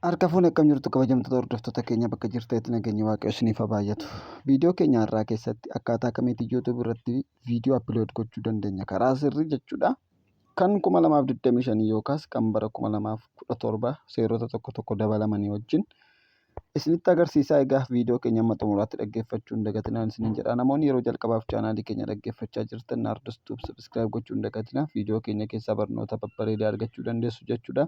Harka fuune akkam jirtu kabajamtoota hordoftoota keenya bakka jirtanitti nageenyi waaqayyo isiniif haa baay'atu. Viidiyoo keenya har'aa keessatti akkaataa kamiitiin YouTube irratti viidiyoo upload gochuu dandeenya karaa sirrii jechuudha. Kan 2025 yookaas kan bara 2017 seerota tokko tokko dabalamanii wajjin isinitti agarsiisaa egaa viidiyoo keenya amma xumuraatti dhaggeeffachuu hin dagatinaa isiniin jedha. Namoonni yeroo jalqabaaf chaanaalii keenya dhaggeeffachaa jirtan Naardos Tube subscribe gochuu hin dagatinaa. Viidiyoo keenya keessaa barnoota babbareedaa argachuu dandeessu jechuudha.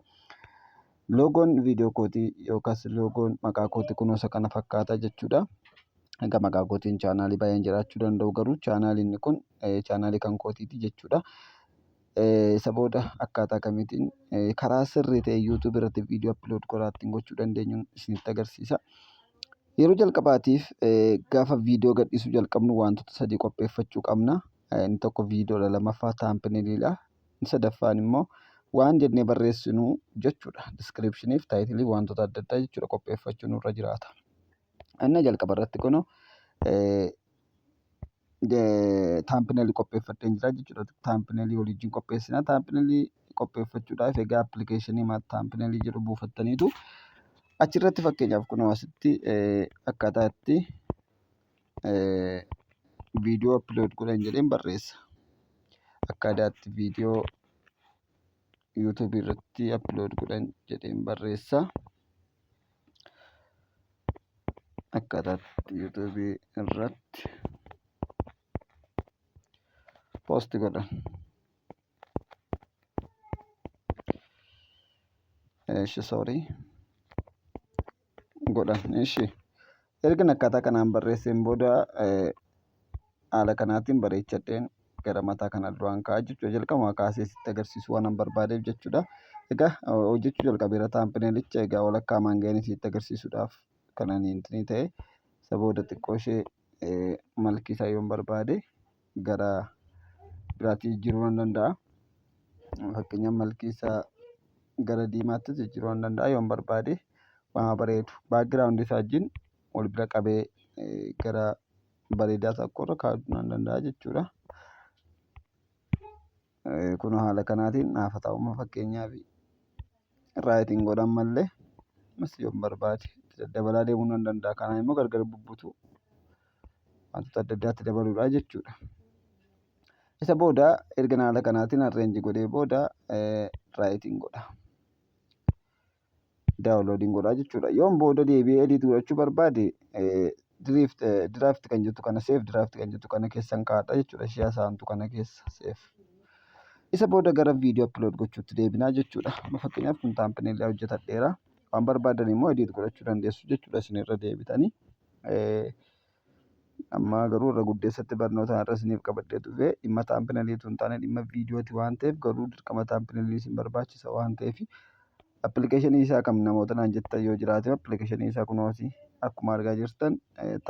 Loogoon viidiyoo kootii yookaas loogoon maqaa kootii kunoo isa kana fakkaata jechuudha. Egaa maqaa kootiin chaanaalii baay'een jiraachuu danda'u garuu chaanaaliin kun chaanaalii kan kootiiti jechuudha. Isa booda akkaataa kamiitiin karaa sirrii ta'e YouTube irratti viidiyoo upload godhaa ittiin gochuu dandeenyu isinitti agarsiisa. Yeroo jalqabaatiif gaafa viidiyoo gadhiisuu jalqabnu wantoota sadii qopheeffachuu qabna. Inni tokko viidiyoodha lamaffaa taampiniliidha. Inni sadaffaan immoo waan jennee barreessinu jechuudha. Diskiripshiniif taayitilii wantoota adda addaa jechuudha qopheeffachuu nurra jiraata. Anna jalqaba irratti kunoo taampinelii qopheeffadheen jira jechuudha. Taampinelii waliin qopheessina. Taampinelii qopheeffachuudhaaf egaa appilikeeshinii taampinelii jedhu buufattaniitu achirratti fakkeenyaaf kunoo asitti akkaataa itti viidiyoo upload godhan jedheen barreessa. Akka aadaatti viidiyoo YouTube irratti upload godhan jedheen barreessa. Akka aadaatti YouTube irratti post godhan. Eesh sorry. godhan ishi ergan akkaataa kanaan barreesseen booda haala kanaatiin bareechadheen gara mataa kana duraan ka'aa jechuudha jalqabuma kaasee sitti agarsiisu waan barbaadeef jechuudha egaa hojjechuu jalqabeera taampinelicha egaa walakkaa maanga'een sitti agarsiisuudhaaf kananiin ta'e isa booda xiqqoo ishee malkiisaa yoon barbaade gara biraatti jijjiiruu nan danda'a. Fakkeenyaaf malkii isaa gara diimaattis jijjiiruu nan danda'a yoon barbaade. Waan haa bareedu background isaa wajjin wal bira qabee gara bareedaa tokkorra kaa'uu nan danda'a jechuudha. Kun haala kanaatiin naafa taa'umma fakkeenyaaf raayitiin godhan mallee ammas yoon barbaade itti daddabalaa deemuu nan danda'a. Kanaan immoo gargar bubbutuu wantoota adda addaatti dabaluudhaa jechuudha. Isa booda erga haala kanaatiin arreenji godhee booda raayitiin godha. daawunloodiin godhaa jechuudha. Yoon booda deebi'ee edit godhachuu barbaade diriift diraaft kan jettu kana seef diraaft kan jettu kana keessan kaa'adha jechuudha. Ishee hasaantu kana keessa seef. Isa booda gara viidiyoo upload gochuutti deebinaa jechuudha. Amma fakkeenyaaf kun taampinillee hojjetadheera. Waan barbaadan immoo edit godhachuu dandeessu jechuudha isinirra deebitanii. Ammaa garuu irra guddeessatti barnootaan irra isiniif qabadhee dhufe dhimma taampinalii utuu hin taane dhimma viidiyooti waan ta'eef garuu dirqama taampinalii isin barbaachisa waan ta'eef appilikeeshinii isaa kam namoota naan jettan yoo jiraate appilikeeshinii isaa kunooti akkuma argaa jirtan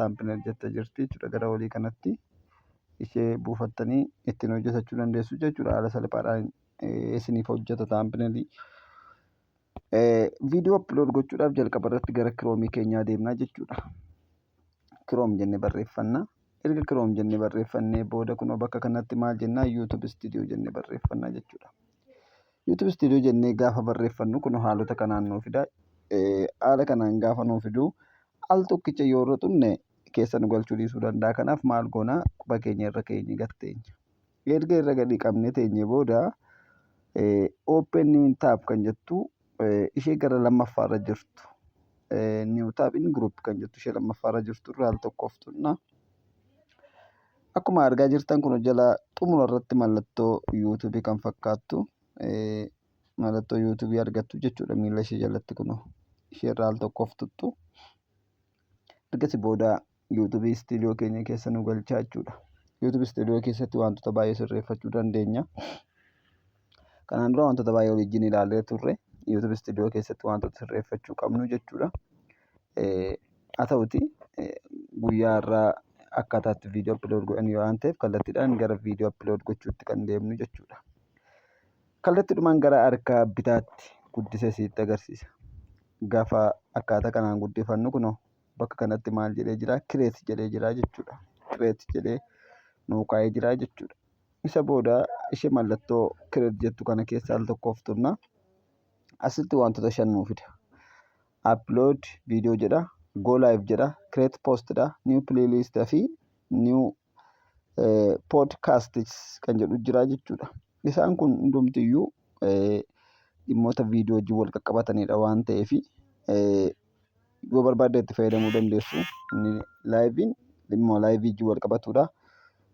taampinal jetta jirti jechuudha gara olii kanatti ishee buufattanii ittiin hojjetachuu dandeessu jechuudha haala salphaadhaan isiniif hojjeta taampinalii. Viidiyoo upload gochuudhaaf jalqaba irratti gara kiroomii keenyaa deemnaa jechuudha. kiroom jenne barreeffanna erga kiroom jenne barreeffannee booda kunoo bakka kanatti maal jennaa yuutub istiidiyoo jenne barreeffanna jechuudha yuutub istiidiyoo jennee gaafa barreeffannu kunoo haalota kanaan nuu fida haala kanaan gaafa nuu fiduu al tokkicha yoo irra xunne keessa nu galchuu dhiisuu danda'a kanaaf maal goonaa quba keenya irra keenya gatteenya. Erga irra gadi qabne teenye booda open new tab kan jettu ishee gara lammaffaa irra jirtu new tab in group kan jettu ishee lammaffaa irra jirtu irraa al tokkoof tunna. Akkuma argaa jirtan kun jala xumura irratti mallattoo YouTube kan fakkaattu mallattoo YouTube argattu jechuudha miila ishee jalatti kun ishee irraa al tokkoof tuttu. Ergasii booda YouTube Studio keenya keessa nu galchaa jechuudha. YouTube Studio keessatti wantoota baay'ee sirreeffachuu dandeenya. Kanaan dura wantoota baay'ee waliin ilaallee turre. YouTube Studio keessatti wantoota sirreeffachuu qabnu jechuudha. Haa ta'uti guyyaa irraa akkaataa itti viidiyoo upload godhan yoo waan ta'eef kallattiidhaan gara viidiyoo upload gochuutti kan deemnu jechuudha. Kallattiidhumaan gara harka bitaatti guddisee sitti agarsiisa. Gaafa akkaataa kanaan guddifannu kunoo bakka kanatti maal jedhee jira kireet jedhee jira jechuudha kireet jedhee nuu kaa'ee jira jechuudha isa booda ishee mallattoo kireet jettu kana keessa al tokkoof tunna asitti wantoota shan nuu fida upload viidiyoo jedha go live jedha kireet post dha new playlist fi new poodkaastiis kan jedhu jira jechuudha. Isaan kun hundumtiyyuu dhimmoota viidiyoo wajjin wal qaqqabatanidha waan ta'eef yoo barbaaddan itti fayyadamuu dandeessu. Inni laayiviin dhimma laayivii wajjin wal qabatudha.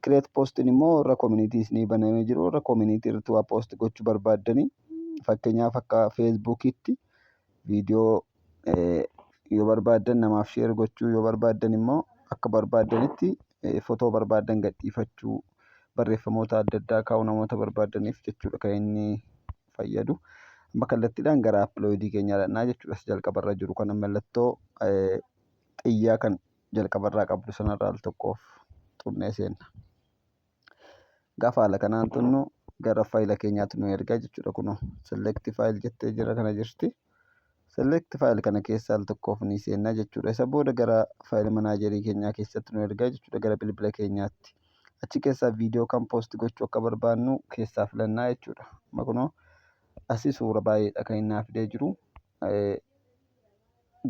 Kireet poostiin immoo warra koominiitii isinii banamee jiru warra koominiitii irratti waa poosti gochuu barbaaddanii fakkeenyaaf akka feesbuukiitti viidiyoo yoo barbaaddan namaaf sheer gochuu yoo barbaaddan immoo akka barbaaddanitti fotoo barbaaddan gadhiifachuu barreeffamoota adda addaa kaa'uu namoota barbaaddaniif jechuudha kan inni fayyadu. Amma kallattiidhaan gara appilooyidii keenyaa dhaqnaa jechuudha. Isa jalqabarra jiru kana mallattoo xiyyaa kan jalqabarraa qabdu sanarra al tokkoof xunnee seenna. Gaafa haala kanaan tunnu gara faayila keenyaatti nu erga jechuudha kunoo select file jettee jira kana jirti. Select file kana keessaa al tokkoof ni seenna jechuudha. Isa booda gara faayila manaajerii keenyaa keessatti nu erga jechuudha gara bilbila keenyaatti. Achi keessaa viidiyoo kan poosti gochuu akka barbaannu keessaa filannaa jechuudha. Amma kunoo asii suura baay'eedha kan inni naa fidee jiru.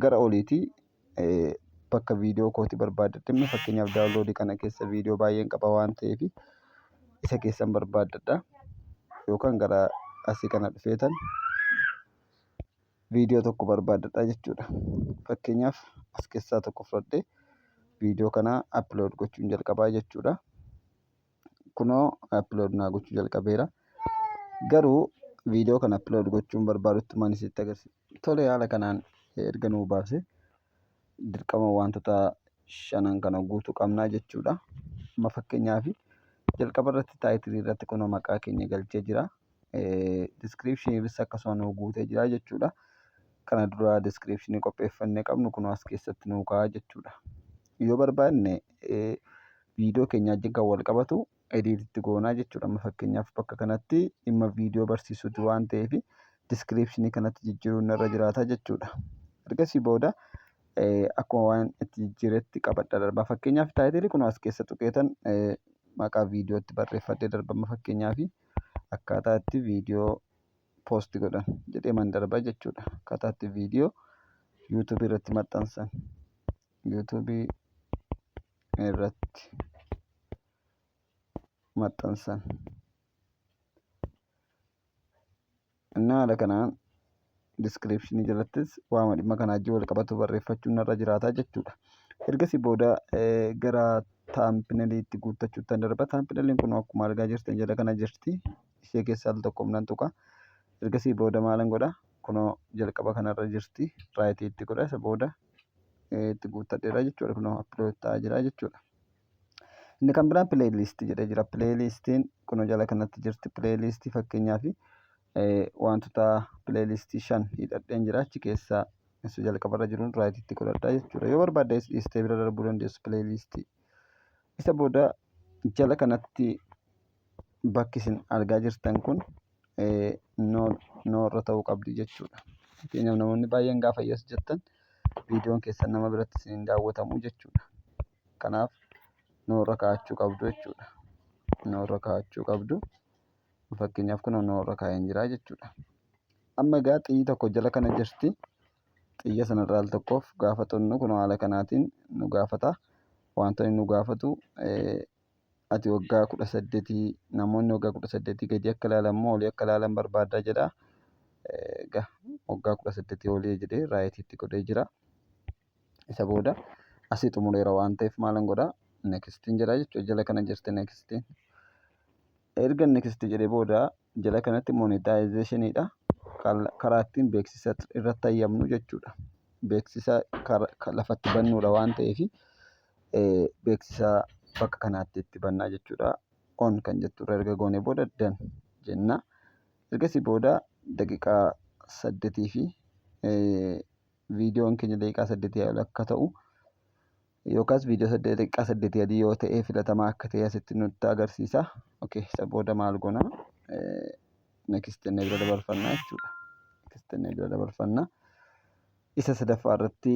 gara oliiti bakka viidiyoo kooti barbaadadhimma fakkeenyaaf daawunloodi kana keessa viidiyoo baay'een qaba waan ta'eef isa keessan barbaadadha yookaan gara asii kana dhufeetan viidiyoo tokko barbaadadha jechuudha. Fakkeenyaaf as keessaa tokko fudhadhee viidiyoo kana upload gochuun jalqabaa jechuudha. kunoo upload naa gochuu jalqabeera garuu viidiyoo kana upload gochuun barbaadutti maan isitti agarsiisa tole haala kanaan erga nuu baase dirqama wantoota shanan kana guutuu qabnaa jechuudha amma fakkeenyaaf jalqaba irratti taayitilii irratti kunoo maqaa keenya galchee jira description ibsa akkasuma nuu guutee jira jechuudha. Kana dura description qopheeffannee qabnu kun as keessatti nuu ka'a jechuudha. Yoo barbaanne viidiyoo keenya wajjin kan wal qabatu ediititti goonaa jechuudha. Amma fakkeenyaaf bakka kanatti dhimma viidiyoo barsiisuuti waan ta'eef description kanatti jijjiiruun irra jiraata jechuudha. Ergasii booda akkuma waan itti jijjiiretti qabadha darba. Fakkeenyaaf taayitilii kun as keessa tuqeetan maqaa viidiyootti barreeffadhee darba fakkeenyaaf. akkaataa itti viidiyoo poosti godhan jedhee man darba jechuudha akkaataa itti viidiyoo yuutuubii irratti maxxansan yuutuubii irratti maxxansan Innaa haala kanaan diskiripshinii jalattis waama dhimma kanaa wajjin wal qabatu barreeffachuun narra jiraata jechuudha. Ergasii booda gara taampinaliitti guuttachuutti an darba. Taampinaliin kun akkuma argaa jirtan jala kana jirti. Ishee keessaa al tokko nan tuqa. Ergasii booda maalan godha? Kunoo jalqaba kanarra jirti. Raayitii itti godha. Isa booda itti guuttadheera jechuudha. Kunoo appilood ta'aa jira jechuudha. Inni kan biraan pileeyiliistii jedhee jira. Pileeyiliistiin kunoo jala kanatti jirti. Pileeyiliistii fakkeenyaaf wantoota pileeyiliistii shan hidhadheen jira. Achi keessaa isa jalqabarra jiruun raayititti godhadha jechuudha. Yoo barbaadde is dhiistee bira darbuu dandeessu pileeyiliistii. Isa booda jala kanatti bakki isin argaa jirtan kun noorra ta'uu qabdi jechuudha. Fakkeenyaaf namoonni baay'een gaafa yes jettan viidiyoon keessan nama biratti isin hin daawwatamu jechuudha. kanaaf nuu irra kaa'achuu qabdu jechuudha. Nuu irra kaa'achuu qabdu. Fakkeenyaaf kun nuu irra kaa'een jira jechuudha. Amma egaa xiyyi tokko jala kana jirti. Xiyya sanarraa al tokkoof gaafa xunnu kun haala kanaatiin nu gaafata. Wantoonni nu gaafatu ati waggaa kudha saddeetii namoonni waggaa kudha saddeetii gadi akka ilaalan moo olii akka ilaalan barbaaddaa jedha. Egaa waggaa kudha saddeetii olii jedhee raayitiitti godhee jira. isa booda asii xumureera waan ta'eef maalan godha nekistiin jedha jechuudha jala kana jirti nekistiin erga nekistii jedhee booda jala kanatti monetaayizeeshiniidha karaa ittiin beeksisa irratti hayyamnu jechuudha beeksisa lafatti bannuudha waan ta'eef beeksisa bakka kanaatti itti bannaa jechuudha on kan jettu irra erga goonee booda dan jenna ergasii booda daqiqaa saddetii fi viidiyoon keenya daqiiqaa saddeetii ol akka ta'u yookaas viidiyoo saddeet daqiiqaa saddeetii adii yoo ta'e filatamaa akka ta'e asitti nutti agarsiisa. Okay, isa booda maal goona? Next jennee bira dabarfanna jechuudha. Next jennee bira dabarfanna. Isa sadaffaa irratti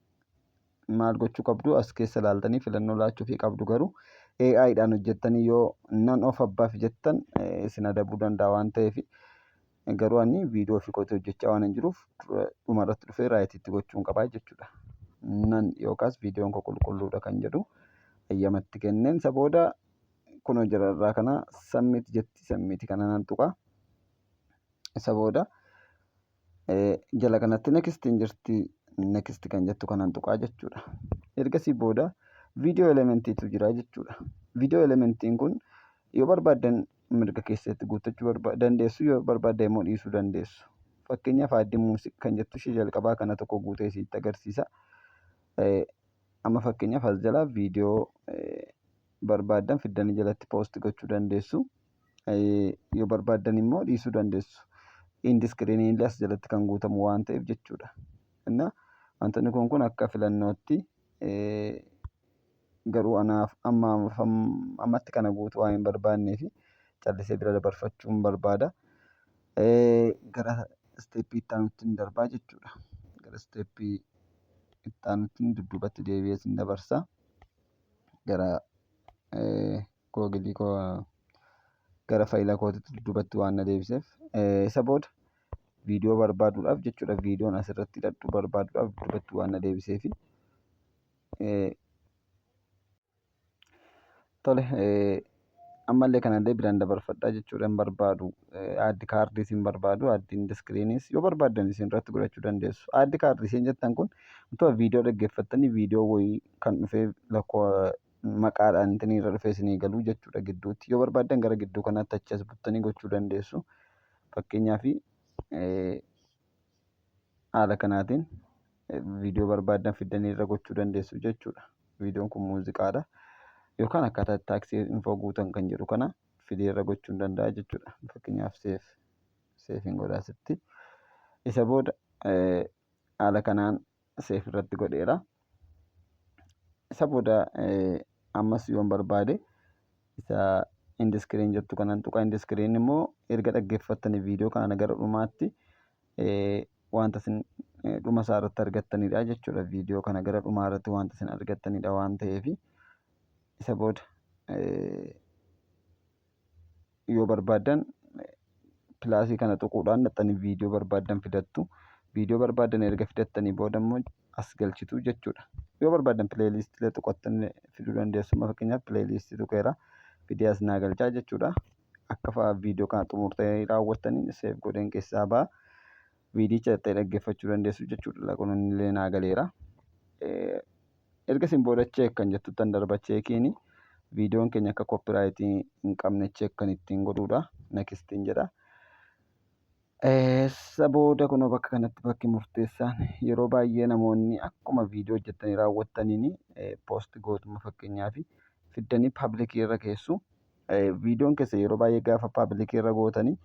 maal gochuu qabdu as keessa ilaaltanii filannoo laachuufii qabdu garuu AI dhaan hojjettanii yoo nan of abbaaf jettan eh, isin adabuu danda'a waan ta'eef garuu ani viidiyoo ofii kootii hojjechaa waan hin jiruuf dura- dhuma irratti dhufee raayitiitti gochuun qabaa jechuudha. Nan yookaas viidiyoon koo qulqulluudha kan jedhu ayyamatti kenneen isa booda kunoo jira irraa kana sammiiti jetti sammiiti kana nan tuqa isa booda jala kanatti next hin jirti next kan jettu kanan tuqaa jechuudha ergasii booda video elementiitu jira jechuudha video elementiin kun yoo barbaaddan mirga keessatti guuttachuu barba- dandeessu yoo barbaaddan immoo dhiisuu dandeessu fakkeenyaaf aaddi muusiq kan jettu ishee jalqabaa kana tokko guutee isiitti agarsiisa Eh, amma fakkeenyaaf as jalaa viidiyoo eh, barbaaddan fiddanii jalatti poosti gochuu dandeessu yoo barbaaddan immoo dhiisuu dandeessu. Indi iskiriinii illee as jalatti kan guutamu waan ta'eef jechuudha. Inna wantoonni kun kun akka filannootti garuu anaaf amma ammatti kana guutuu waan hin barbaadneef callisee bira dabarfachuun barbaada. Gara isteeppii itti aanutti hin darbaa jechuudha. Gara isteeppii itti aanutti dudduubatti deebi'ee sin dabarsa. Gara googilii koo gara faayila kootitti dudduubatti waan na deebiseef isa booda viidiyoo barbaaduudhaaf jechuudha viidiyoon asirratti hidhadhu barbaaduudhaaf dudduubatti waan na deebiseefi tole ammallee kanallee biraan dabarfadhaa jechuudha hin barbaadu aaddi kaardiis hin barbaadu aaddi indiskiriiniis yoo barbaaddan isin irratti godhachuu dandeessu aaddi kaardii isin jettan kun wantoota viidiyoo dhaggeeffattanii viidiyoo wayii kan dhufee lakkoo maqaadhaan intinii irra dhufee isinii galuu jechuudha gidduutti yoo barbaaddan gara gidduu kanaatti achi as buttanii gochuu dandeessu fakkeenyaa fi haala kanaatiin viidiyoo barbaaddan fiddanii irra gochuu dandeessu jechuudha viidiyoon kun muuziqaadha yookaan akkaataa taaksii infoo guutan kan jedhu kana fidee irra gochuu danda'a jechuudha fakkeenyaaf seef seefiin godhaasitti isa booda haala kanaan seef irratti godheera. Isa booda ammas yoon barbaade isa indiskiriin jettu kanan tuqa indiskiriin immoo erga dhaggeeffattanii viidiyoo kana gara dhumaatti wanta isin dhuma isaa irratti argattanidha jechuudha. Viidiyoo kana gara dhumaa irratti wanta isin argattanidha waan ta'eef isa booda yoo barbaaddan pilaasii kana tuquudhaan dhaxxanii viidiyoo barbaaddan fidattu viidiyoo barbaaddan erga fidattanii booda immoo as galchitu jechuudha yoo barbaaddan pileeliistilee tuqattan fiduu dandeessu amma fakkeenyaaf pileeliistii tuqeera fidee as naa galchaa jechuudha akka fa'a viidiyoo kana xumurtanii raawwattaniin seef godheen keessaa ba'a viidiyicha dhaxxee dhaggeeffachuu dandeessu jechuudha laquun illee naa galeera. erga isin booda check kan jettuttan darba cheekiin viidiyoon keenya akka copyright hin qabne check kan ittiin godhuudha nakistiin jedha. Isa booda kunoo bakka kanatti bakki murteessaan yeroo baay'ee namoonni akkuma viidiyoo hojjettanii raawwattaniin poost gootuma fakkeenyaaf fiddanii paablikii irra keessu. Viidiyoon keessa yeroo baay'ee gaafa paablikii irra gootanii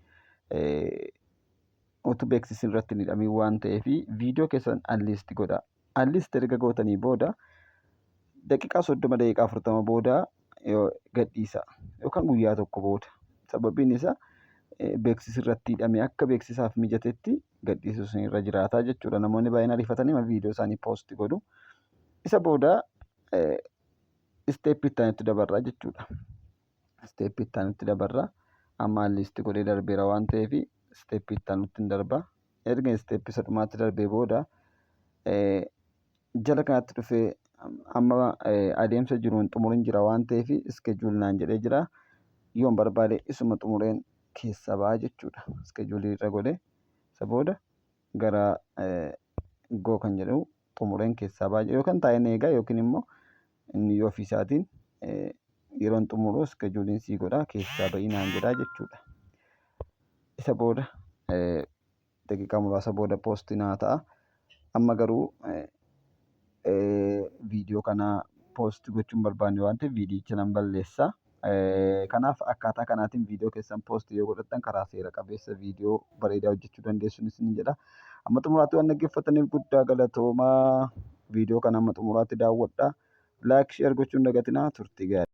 utuu beeksisni irratti hin hidhamiin waan ta'eef viidiyoo keessan anliisti godhaa. at least erga gootanii booda daqiiqaa soddoma daqiiqaa afurtama booda gadhiisa yookaan guyyaa tokko booda sababiin isaa beeksisi irratti hidhame akka beeksisaaf mijatetti gadhiisuu isin irra jiraataa jechuudha namoonni baay'een ariifatanii viidiyoo isaanii poosti godhu isa booda isteeppii itti dabarraa jechuudha. isteeppii itti aanutti dabarra. Amma liisti godhee darbeera waan ta'eef isteeppii itti aanutti hin darba. Erga isteeppii isa dhumaatti darbee booda jala kanatti dhufee amma adeemsa jiruun xumurin jira waan ta'eef iskejuul naan jedhee jira. Yoon barbaade isuma xumureen keessa ba'a jechuudha. Iskejuulii irra godhee isa booda gara goo kan jedhu xumureen keessaa ba'a jedha yookaan taa'een eegaa yookiin immoo inni yoo ofiisaatiin eh, yeroon xumuruu iskejuuliin sii godhaa keessaa ba'ii naan jedhaa jechuudha. Isa booda eh, daqiiqaa muraasa booda poostii naa ta'a. Amma garuu eh, eh, viidiyoo kana poostii gochuun barbaanne waan ta'eef viidiyicha nan balleessa. Kanaaf akkaataa kanaatiin viidiyoo keessan poost yoo godhattan karaa seera qabeessa viidiyoo bareedaa hojjechuu dandeessuun isin jedha. Amma xumuraatti waan dhaggeeffataniif guddaa galatoomaa. Viidiyoo kana amma xumuraatti daawwadha. Laayik sheer gochuun dagatinaa turtii gaarii.